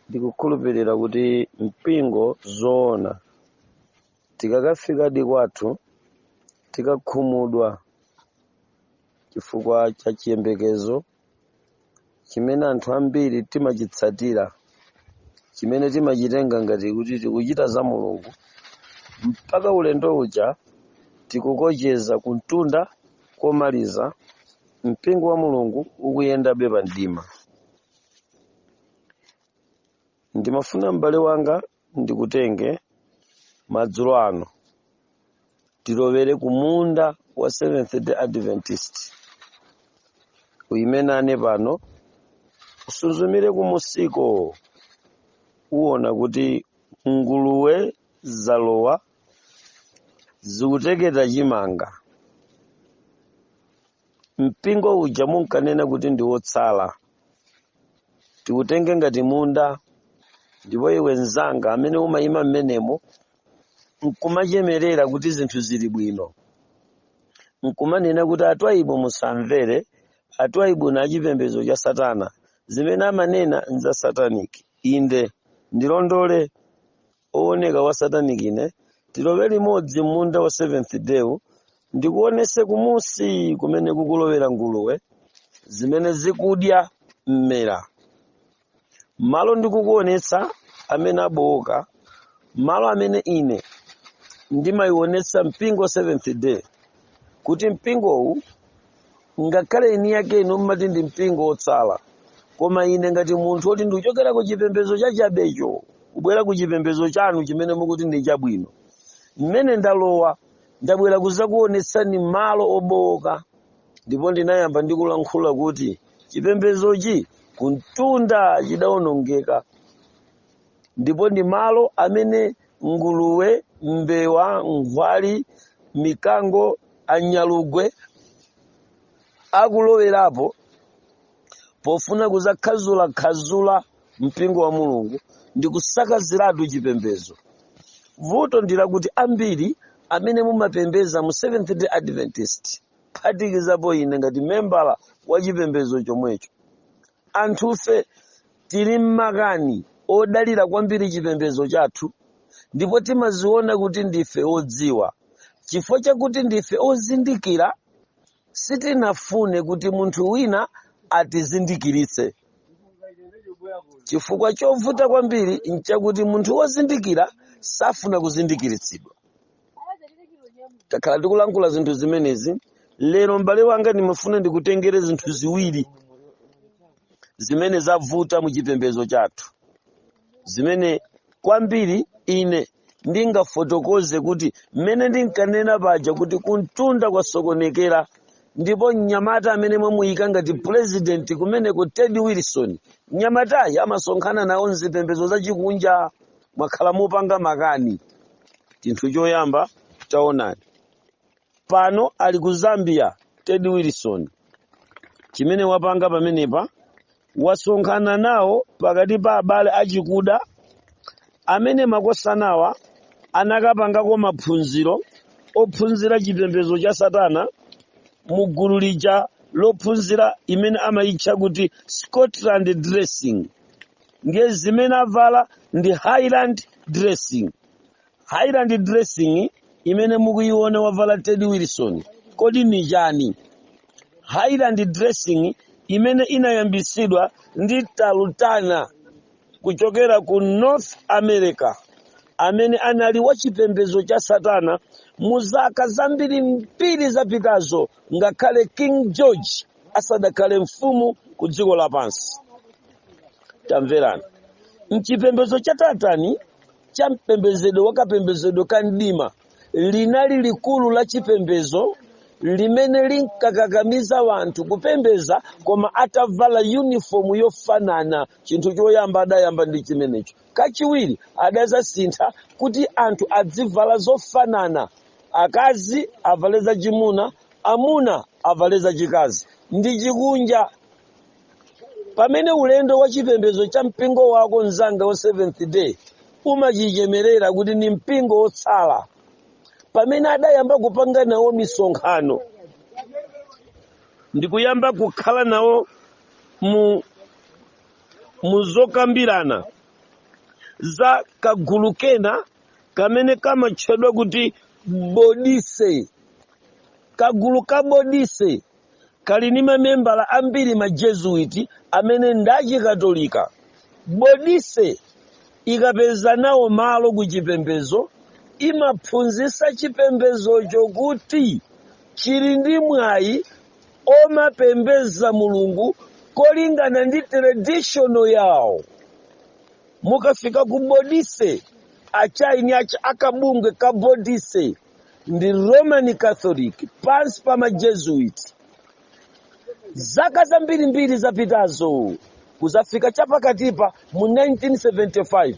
ndikukhulupirira kuti mpingo zoona tikakafikadi kwathu tikakhumudwa chifukwa cha chiyembekezo chimene anthu ambiri timachitsatira chimene timachitenga ngati kuti tikuchita za mulungu mpaka ulendo uja tikukocheza kumtunda komaliza mpingo wa mulungu ukuyendabe pa mdima ndimafuna m'bale wanga ndikutenge madzulo ano tilowere ku munda wa seventh day adventist uyime nane pano usunzumire kumusiko uwona kuti nguluwe zalowa zikuteketa chimanga mpingo uja munkanena kuti ndi wotsala tikutenge ngati munda ndipo iwe mnzanga amene umayima mmenemo nkumachemerera kuti zinthu zili bwino nkumanena kuti atwaibu musamvere atwaibu ndi a chipembedzo cha satana zimene amanena nza sataniki inde ndilondole owoneka wa sataniki ine tilowe limodzi m'munda wa seventh day ndikuonese kumusi kumene kukulowera nguluwe zimene zikudya mmera malo ndikukuonetsa amene abowoka malo amene ine ndimayionetsa mpingo seventh day kuti mpingowu ngakhale eni yake inu mmati ndi mpingo wotsala koma ine ngati munthu woti ndikuchokera ku chipembedzo chachabecho kubwera ku chipembedzo chanu chimene mukuti ndi chabwino mmene ndalowa ndabwera kuzakuonetsani malo obowoka ndipo ndinayamba ndikulankhula kuti chipembedzochi kuntunda chidawonongeka ndipo ndi malo amene nguluwe, mbewa, nkhwali, mikango, anyalugwe akulowerapo pofuna kuzakhazulakhazula mpingo wa mulungu ndi kusakaziratu chipembedzo vuto ndi lakuti ambiri amene mumapembeza mu seventh day adventist phatikizapo ine ngati membala wa chipembedzo chomwecho Anthufe tili m'makani odalira kwambiri chipembedzo chathu ndipo timaziona kuti ndife odziwa. Chifukwa chakuti ndife ozindikira, sitinafune kuti munthu wina atizindikiritse. Chifukwa chovuta kwambiri n'chakuti munthu wozindikira safuna kuzindikiritsidwa. takhala tikulankhula zinthu zimenezi lero m'bale wanga ndimafuna ndikutengere zinthu ziwiri zimene zavuta mu chipembedzo chathu zimene kwambiri ine ndingafotokoze kuti mmene ndinkanena paja kuti kuntunda kwasokonekera ndipo mnyamata amene mwamuika ngati purezidenti kumeneko ted wilson mnyamatayi amasonkhana nawo mzipembedzo zachikunja mwakhala mukupanga makani chinthu choyamba taonani pano ali ku zambia ted wilson chimene wapanga pamenepa wasonkhana nawo pakati pa abale achikuda amene makosana awa anakapangako maphunziro ophunzira chipembedzo cha satana mu gulu lija lophunzira imene amayitcha kuti scotland dressing ndiye zimene avala ndi highland dressing highland dressing imene mukuyiona wavala ted wilson kodi ni chani highland dressing imene inayambitsidwa ndi talutana kuchokera ku north america amene anali wachipembedzo cha satana mu zaka zambirimbiri zapitazo ngakhale king george asadakhale mfumu ku dziko lapansi tamverani mchipembedzo cha tatani cha mpembezedwe wakapembezedwe ka mdima linali likulu la chipembedzo limene linkakakamiza wanthu kupembeza koma atavala uniform yofanana chinthu choyamba adayamba ndi chimenecho Kachiwiri adadzasintha kuti anthu azivala zofanana, akazi avale zachimuna, amuna avale zachikazi, ndi chikunja. Pamene ulendo wa chipembedzo cha mpingo wako mnzanga wa Seventh-day umachichemerera kuti ndi mpingo wotsala, pamene adayamba kupanga nawo misonkhano ndikuyamba kukhala nawo mu mu zokambirana za kagulu kena kamene kamatchedwa kuti bodise kagulu ka bodise kali ndi mamembala ambiri majezuiti amene ndi achikatolika bodise ikapeza nawo malo ku chipembezo imaphunzitsa chipembezocho kuti chili ndi mwayi omapembeza mulungu kolingana ndi tradition yawo mukafika ku bodise achairman ake a kabungwe ka bodise ndi roman catholic pansi pa majesuit zaka zambirimbiri zapitazo kuzafika chapakatipa mu 1975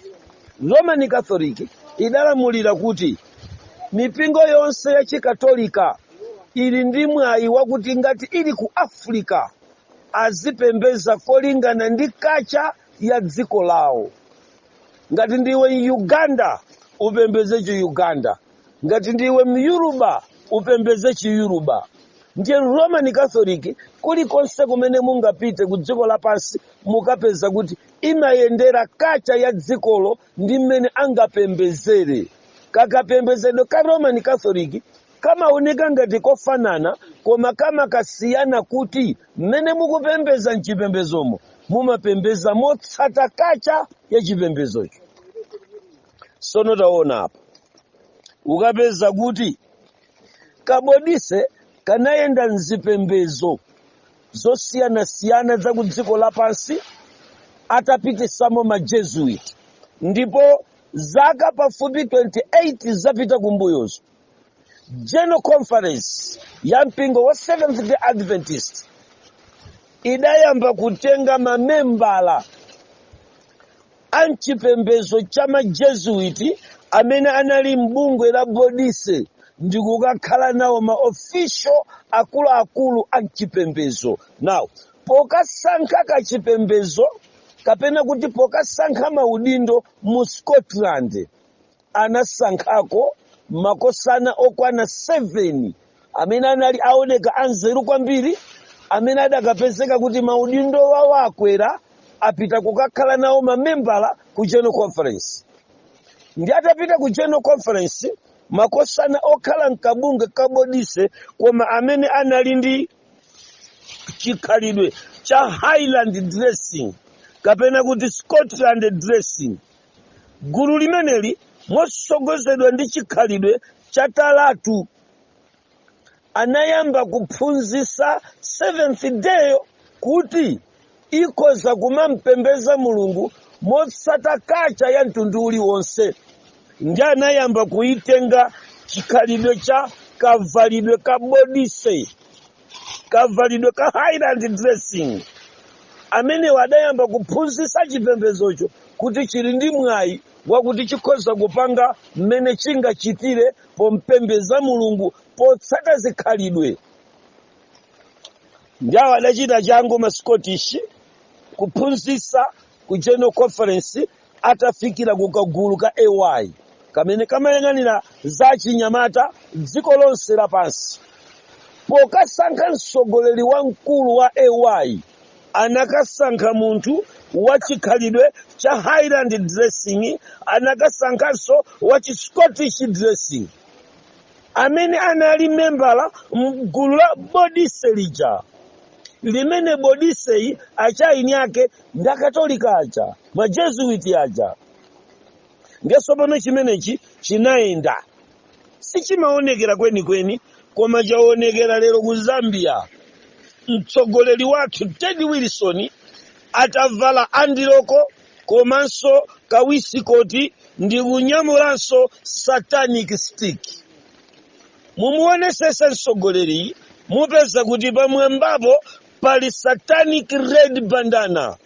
roman catholic idalamulira kuti mipingo yonse ya chikatolika ili ndi mwayi wakuti ngati ili ku africa azipembeza kolingana ndi kacha ya dziko lawo ngati ndiwe muganda upembeze chi uganda ngati ndiwe myuruba upembeze chiyuruba ndiye roman catholic kulikonse kumene mungapite ku dziko lapansi mukapeza kuti imayendera kacha ya dzikolo ndi mmene angapembezere kakapembezedwe ka roman catholic kamaoneka ngati kofanana koma kamakasiyana kuti mmene mukupembeza mchipembezomo mumapembeza motsata kacha ya chipembezocho sono taona apa ukapeza kuti kabodise kanayenda mzipembezo zosiyanasiyana za ku dziko lapansi atapitisamo majesuit ndipo zaka pafupi 28 zapita kumbuyozo general conference ya mpingo wa seventh day adventist idayamba kutenga mamembala a m'chipembezo cha majesuit amene anali m'bungwe la bodise ndi kukakhala nawo ma official akuluakulu a m'chipembezo now pokasankha kachipembezo kapena kuti pokasankha maudindo mu scotland anasankhako makosana okwana 7 amene anali owoneka anzeru kwambiri amene adakapezeka kuti maudindo wawo akwera apita kukakhala nawo mamembala ku general conference ndi atapita ku general conference makosana okhala mkabungwe kabodise koma amene anali ndi chikhalidwe cha highland dressing kapena kuti scotland dressing gulu limeneli motsogozedwa ndi chikhalidwe cha talatu anayamba kuphunzisa seventh day kuti ikhoza kumampembeza mulungu motsata kacha ya mtundu uliwonse ndi anayamba kuitenga chikhalidwe cha kavalidwe ka bodise kavalidwe ka highland dressing amenewa adayamba kuphunzitsa chipembezocho kuti chili ndi mwayi wakuti chikhoza kupanga mmene chingachitire pompembeza mulungu potsata zikhalidwe ndiye awo adachita changu ma scottish kuphunzitsa ku general conference atafikira ku kagulu ka AY kamene kamayang'anira za achinyamata dziko lonse lapansi. Pokasankha mtsogoleri wamkulu wa AY, anakasankha munthu wa chikhalidwe cha Highland dressing, anakasankhanso wa chi Scottish dressing amene anali membala m'gulu la bodise lija. limene bodisei achieni ake ndi akatolika aja majesuiti aja ndiye tsopano chimenechi chinayenda sichimaonekera kwenikweni koma chaonekera lero ku zambia mtsogoleri wathu ted wilson atavala andiloko komanso kawisikoti ndi kunyamulanso satanic stick mumuonesese msogoleri mupeza kuti pamwambapo pali satanic red bandana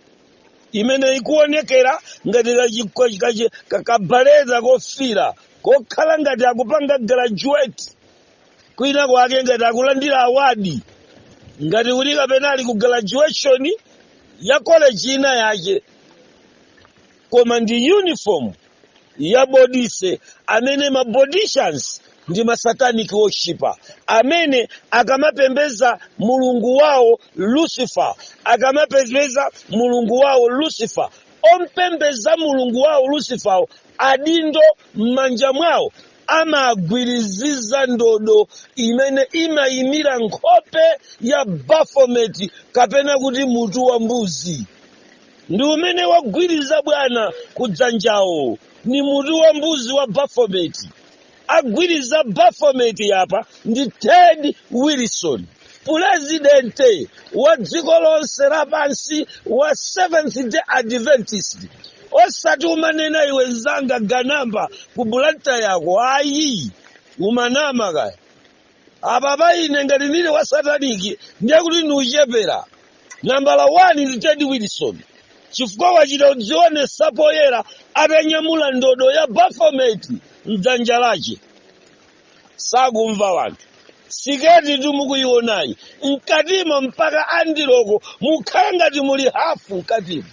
imene ikuonekera ngati kakabaleta kofira kokhala ngati akupanga graduate kwina kwake ngati akulandira awadi ngati kuti kapena ali ku graduation ya college ina yache koma ndi uniform ya bodise amene ma bodicians ndi masatanic worshiper amene akamapembeza mulungu wawo lucifer akamapembeza mulungu wawo lucifer ompembeza mulungu wawo lucifer adindo m'manja mwawo amagwiriziza ndodo imene imayimira nkhope ya baphomet kapena kuti mutu wa mbuzi ndi umene agwiriza bwana kudzanjawo ni mutu wa mbuzi wa baphomet agwiriza baphomet yapa ndi ted wilson pulezidente wa dziko lonse lapansi wa seventh day adventist osati umanena iwe nzanga ganamba ku Blantyre ko ayi umanama kaya apapa ine ngati nili wa sataniki ndiye kuti ndi wochepera nambala 1 ndi ted wilson chifukwa wachita kudzionesa poyera atanyamula ndodo ya baphomet mdzanja lache sakumva anthu siketi timukuionayi mkatimo mpaka andiloko mukhala ngati muli hafu mkatimo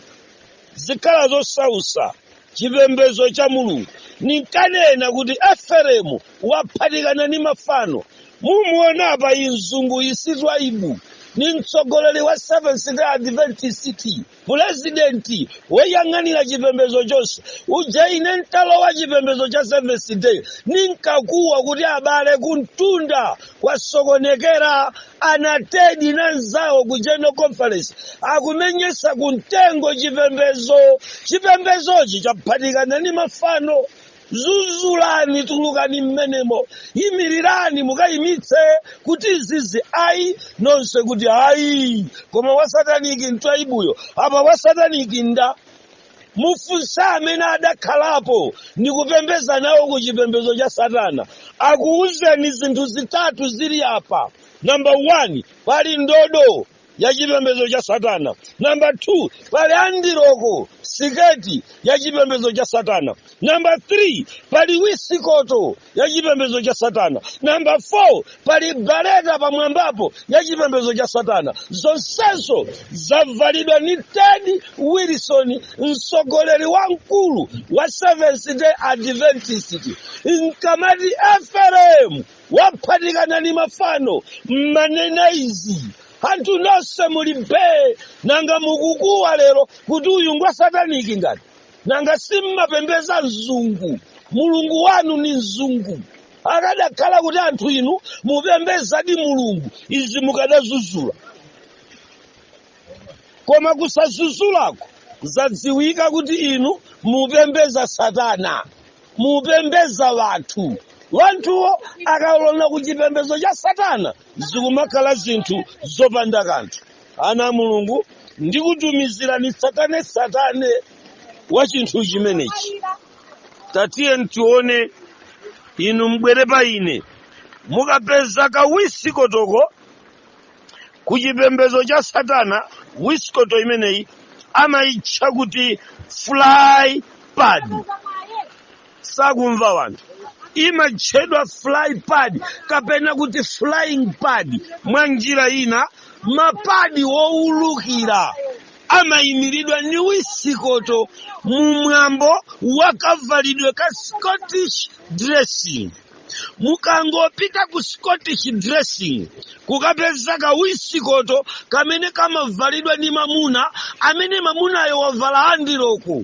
zikhala zosausa chipembedzo cha mulungu ninkanena kuti eferemu waphatikana ni mafano mumuona apa mzungu si Twaibu ni mtsogoleri wa seventh day adventist pulezidenti woyang'anira chipembedzo chonse uja ine ntalowa chipembedzo cha seventh day ninkakuwa kuti abale kumtunda kwasokonekera anatedi na nzawo ku general conference akumenyetsa ku mtengo chipembezo chipembezochi chaphatikana ni mafano zuzulani tulukani mmenemo imirirani mukayimitse kuti izizi ayi nonse kuti ayi koma wasataniki mtwaibuyo apa wasataniki nda mufunse amene adakhalapo ndi kupembeza nawo ku chipembezo cha satana akuwuzeni zinthu zitatu zili apa namba 1 pali ndodo ya chipembezo cha satana namba 2 pali andiroko siketi ya chipembezo cha satana Namba 3 pali wisikoto ya chipembedzo cha Satana. Namba 4 pali bareta pamwambapo ya chipembedzo cha Satana. Zonsezo zavalidwa ni Ted Wilson, mtsogoleri wamkulu wa Seventh Day Adventist. Nkamati Efereimu waphatikana ni mafano mmanena izi anthu nonse muli bee nanga mukukuwa lero kuti uyu ngwa sataniki ngati nanga simmapembeza mzungu mulungu wanu ni mzungu akadakhala kuti anthu inu mupembezadi mulungu izi mukadazuzula koma kusazuzulako zadziwika kuti inu mupembeza satana mupembeza wanthu wanthuwo akalowa ku chipembezo cha satana zikumakhala zinthu zopanda kanthu ana a mulungu ndikutumizirani tsatanetsatane wa chinthu chimenechi tatiyeni tione inu mbwere pa ine mukapeza ka wisikotoko ku chipembezo cha satana wisikoto imeneyi amayitcha kuti fly pad sakumva wanthu imatchedwa fly pad kapena kuti flying pad mwa njira ina mapadi owulukira amayimiridwa ndi wisikoto mu mwambo wa kavalidwe ka scottish dressing mukangopita ku scottish dressing kukapeza ka wisikoto kamene kamavalidwa ndi mamuna amene mamunayo wavala andiroko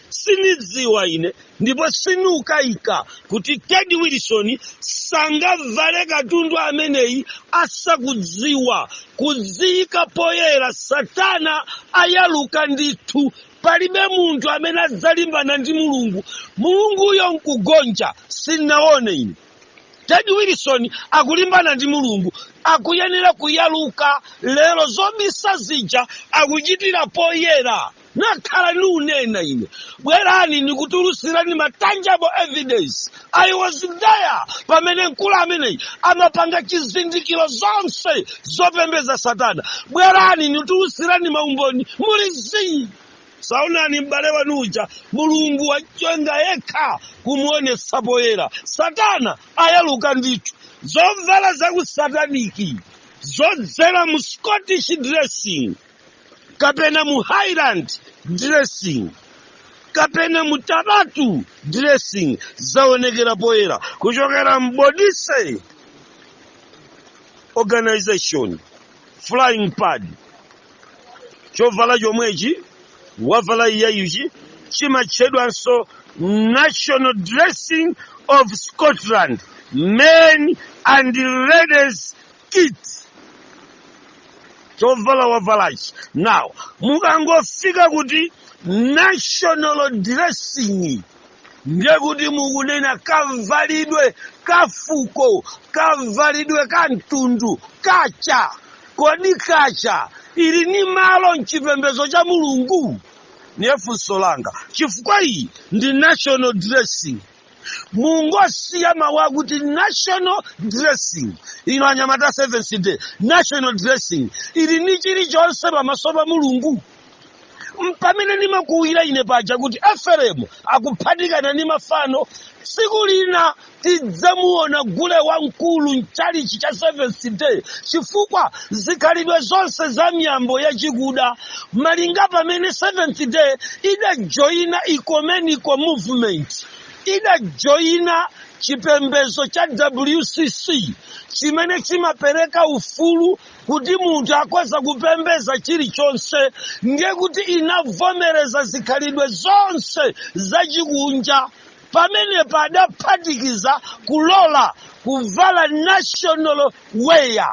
sinidziwa ine ndipo sinikukayika kuti ted wilson sangavale katundu ameneyi asakudziwa kudziyika poyera satana ayaluka ndithu palibe munthu amene adzalimbana ndi mulungu mulunguyo nkugonja sinaone ine ted wilson akulimbana ndi mulungu akuyenera kuyaluka lero zobisa zija akuchitira poyera nakhala niunena ine bwerani nikutulutsirani ma tangible evidence i was there pamene mkulu ameneyi amapanga chizindikiro zonse zopembeza satana bwerani nitulutsirani maumboni muli zii saonani m'bale wanu uja mulungu wachonga yekha kumuonetsa poyera satana ayaluka ndithu zovala zakusataniki zodzera mu scottish dressing kapena mu highland dressing kapena mu tartan dressing zaonekera poyera kuchokera mbodise organization flying pad chovala chomwechi wavala uyuyuchi chimatchedwanso national dressing of scotland men and ladies kilt chovala wavalachi now mukangofika kuti national dressing ndiye kuti mukunena kavalidwe kafuko kavalidwe ka mtundu culture kodi culture ili ni malo mchipembedzo cha mulungu ndiye funso langa chifukwa iyi ndi national dressing mungosiya mawu akuti national dressing inu anyamata seventh day national dressing ili ni chilichonse pamaso pa mulungu mpamene ndimakuwira ine paja kuti eferemu akuphatikana ndi mafano tsiku lina tidzamuona gule wamkulu mchalichi cha seventh day chifukwa zikhalidwe zonse za miyambo yachikuda malinga pamene seventh day idajoyina ecumenical movement idajoyina chipembezo cha wcc chimene chimapereka ufulu kuti munthu akhoza kupembeza chilichonse ndiye kuti inavomereza zikhalidwe zonse zachikunja pamenepa adaphatikiza kulola kuvala national wear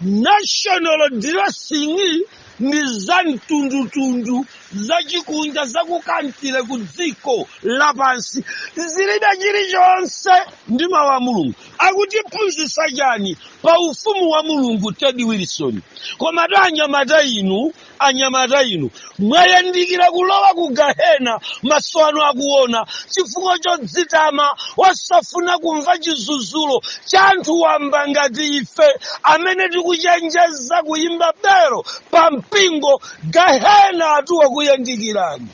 national dressing ndi za mtundutundu zachikunja zaku country ku dziko lapansi zilibe chilichonse ndi mawu a mulungu akutiphunzitsa chani pa ufumu wa mulungu ted wilson komatu anyamata inu anyamata inu mwayandikira kulowa ku gahena maso anu akuona chifukwa chodzitama osafuna kumva chizuzulo cha anthu wamba ngati ife amene tikuchenjeza kuyimba belo pa mpingo gahena watu wakuyandikirani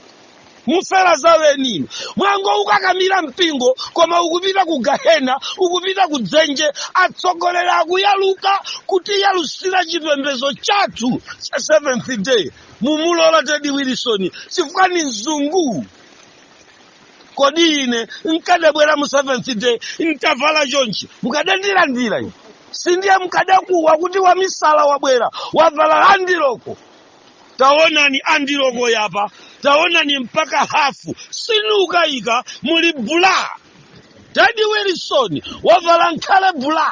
mufera zaweni inu mwangoukakamira mpingo koma ukupita ku gahena ukupita ku dzenje atsogoleri akuyaluka kutiyalusira chipembezo chathu cha seventh day mumulola ted wilson chifukwa ni mzungu kodi ine nkadabwera mu seventh day ntavala chonchi mukadandilandira ine si ndiye mkadakuwa kuti wamisala wabwera wavala andiroko taonani andiloko yapa taonani mpaka hafu sinukayika muli bula ted wilson wavala nkhale bula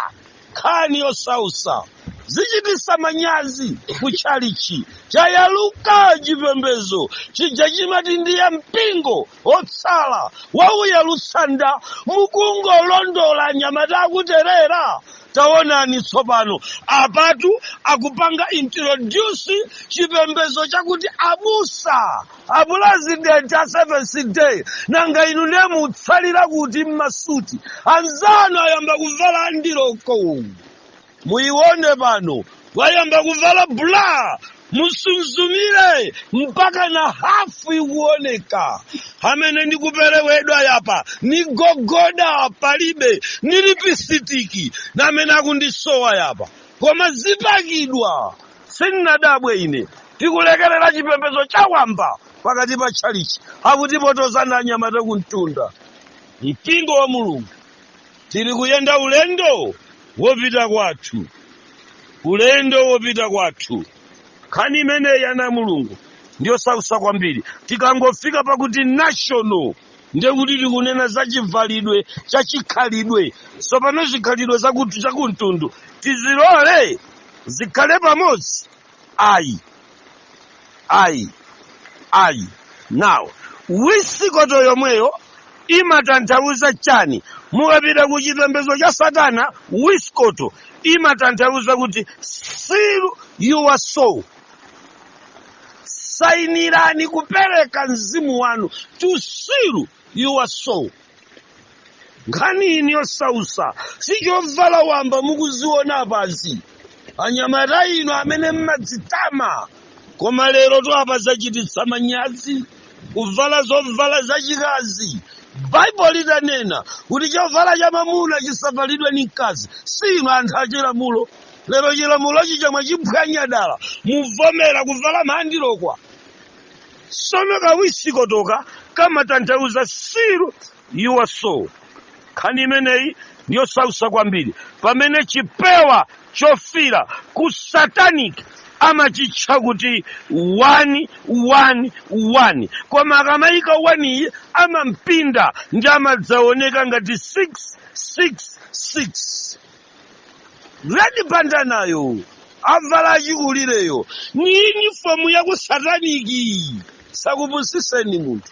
nkhani yosausa zichitisa manyazi ku chalichi chayaluka chipembezo chija chimati ndiye mpingo otsala wauya lusanda mukungolondola anyamata akuterera taonani tsopano apatu akupanga introduce chipembezo chakuti abusa apulezidenti a seventh day nanga inu ndiye mutsalira kuti mmasuti anzanu ayamba kuvala andiroko muyione pano wayamba kuvala bula musunzumire mpaka na hafu ikuoneka amene ndikuperewedwa yapa ni gogoda palibe ni lipisitiki na amene akundisowa yapa koma zipakidwa sinnadabwe ine tikulekerera chipembezo chawamba pakati pa tchalichi akutipotozana anyamata kumtunda mpingo wa mulungu tili kuyenda ulendo wopita kwathu ulendo wopita kwathu nkhani imeneyi ana a mulungu ndiyosausa kwambiri tikangofika pakuti national ndiye kuti tikunena za chivalidwe cha chikhalidwe tsopano zikhalidwe zaku chakumtundu tizilole zikhale pamodzi Ayi, ayi, ayi. Now, wisikoto yomweyo imatanthauza chani? Mukapita ku chipembezo cha Satana, wisikoto imatanthauza kuti seal your soul. Sainirani kupereka mzimu wanu to seal your soul. nkhani ino yosausa si chovala wamba mukuziona apazi anyamata inu amene mmadzitama koma lerotu apa zachititsa manyazi kuvala zovala zachikazi baibulo litanena kuti chovala cha mamuna chisavalidwe ni mkazi si inu anthu achilamulo lero chilamulo chija mwachiphwanya dala muvomera kuvala maandiloko sono kawisikotoka kamatanthauza seal iwe so nkhani imeneyi ndiyosausa kwambiri pamene chipewa chofira ku satanic amachitcha kuti wani wani wani koma akamayika waniyo amampinda ndi amadzaoneka ngati 666 red banda nayo avala achikulireyo ni yunifomu yaku sataniki sakupusiseni munthu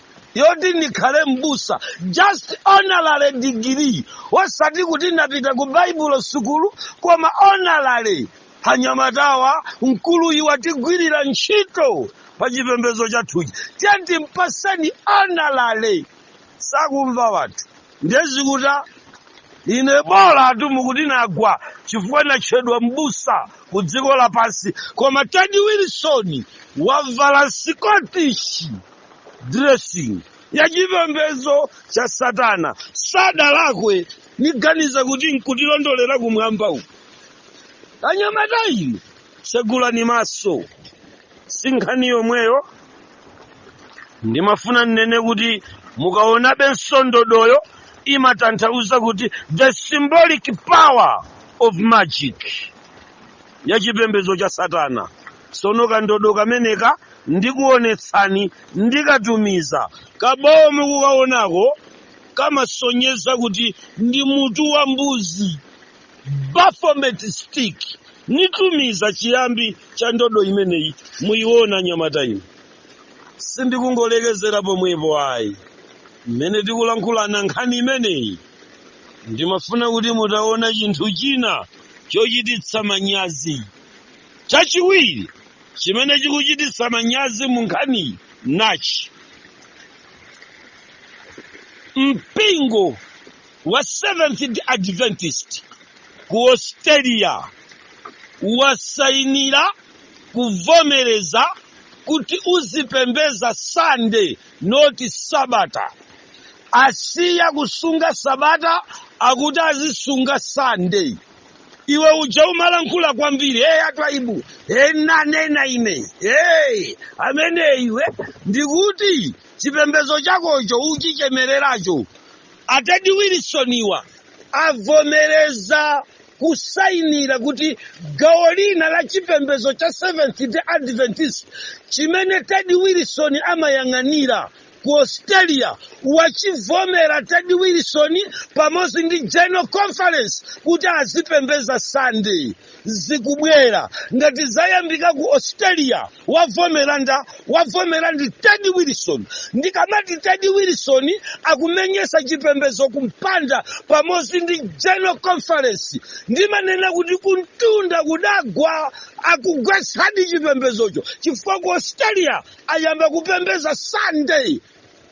yoti ndikhale m'busa just honorary degree osati kuti ndapita ku baibulo sukulu koma honorary anyamatawa mkuluyu watigwirira ntchito pa chipembedzo chathuchi tiyeni timpatseni honorary sakumva wanthu ndiye zikutha ine bolatu mukuti nagwa chifukwa natchedwa m'busa ku dziko lapansi koma tedi wilson wavala sikotishyi dressing ya chipembedzo cha satana sadalakwe n'kuganiza kuti nkutilondolera kumwamba uku anyamata inu tsegulani maso sinkhani yomweyo ndimafuna ninene kuti mukaonabe nso ndodoyo imatanthauza kuti the symbolic power of magic ya chipembedzo cha satana tsono kandodo kameneka ndikuonetsani ndikatumiza kabawo mukukaonako kamasonyeza kuti ndi mutu wa mbuzi baphomet stick nitumiza chiyambi cha ndodo imeneyi muyiona anyamata inu sindikungolekezera pomwepo ayi mmene tikulankhulana nkhani imeneyi ndimafuna kuti mutaona chinthu china chochititsa manyazi chachiwiri chimene chikuchititsa manyazi mu nkhaniyi nachi mpingo wa seventh day adventist ku australia wasainira kuvomereza kuti uzipembeza sunday not sabata asiya kusunga sabata akuti azisunga sunday iwe uja umalankhula kwambiri hey atwaibu hey nanena ine hey amene iwe ndikuti chipembezo chakocho ukuchemereracho atedi wilisoniwa avomereza kusayinira kuti gawo lina la chipembedzo cha seventh day adventist chimene ted wilson amayang'anira ku australia wachivomera ted wilson pamodzi ndi general conference kuti azipembeza sunday zikubwera ngati zayambika ku australia wavomera nda wavomera ndi ted wilson ndikamati ted wilson akumenyesa chipembezo kumpanda pamodzi ndi general conference ndimanena kuti kuntunda kudagwa akugwetsadi chipembezocho chifukwa ku australia ayamba kupembeza sunday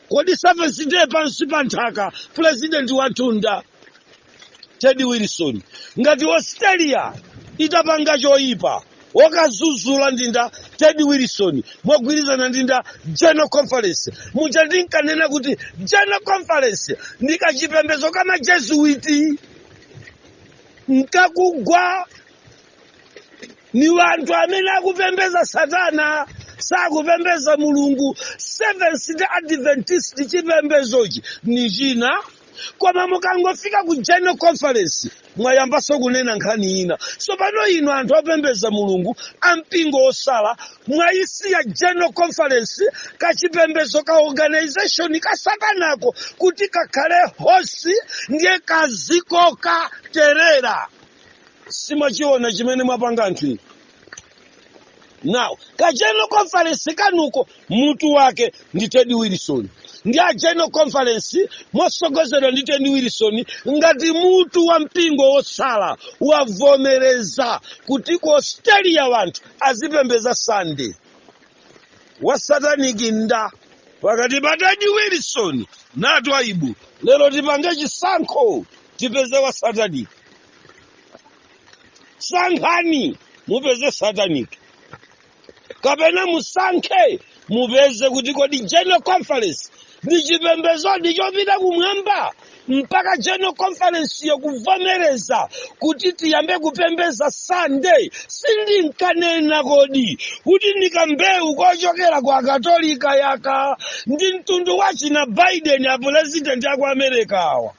kodi SDA pansi pa nthaka pulezidenti watunda ted wilson ngati australia itapanga choyipa wokazuzula ndinda ted wilson mogwirizana ndinda general conference muja ndinkanena kuti general conference ndi kachipembezo ka majesuiti nkakugwa ni wanthu amene akupembeza satana sakupembeza mulungu seventh day adventist chipembezochi ni china koma mukangofika ku general conference mwayambaso kunena nkhani ina tsopano inu anthu opembeza mulungu ampingo osala mwayisiya general conference kachipembezo ka organization ka satanako kuti kakhale hosi ndiye kazikoka terera simwachiona chimene mwapanga anthu inu now ka general conference kanuko mutu wake ndi ted wilson ndi a general conference mosogozedwa ndi ted wilson ngati mutu wa mpingo wotsala wavomereza kuti ku australia wanthu azipembeza sunday wasataniki nda pakati pa ted wilson na twaibu lero tipange chisankho tipeze wasataniki sankhani mupeze sataniki kapena musankhe mupeze kuti kodi general conference ndi chipembedzodi chopita kumwamba mpaka general conference yokuvomereza kuti tiyambe kupembeza sunday sindinkanena kodi kuti ndikambewu kochokera kwa katolika yaka ndi mtundu wachina biden apulezidenti aku america awa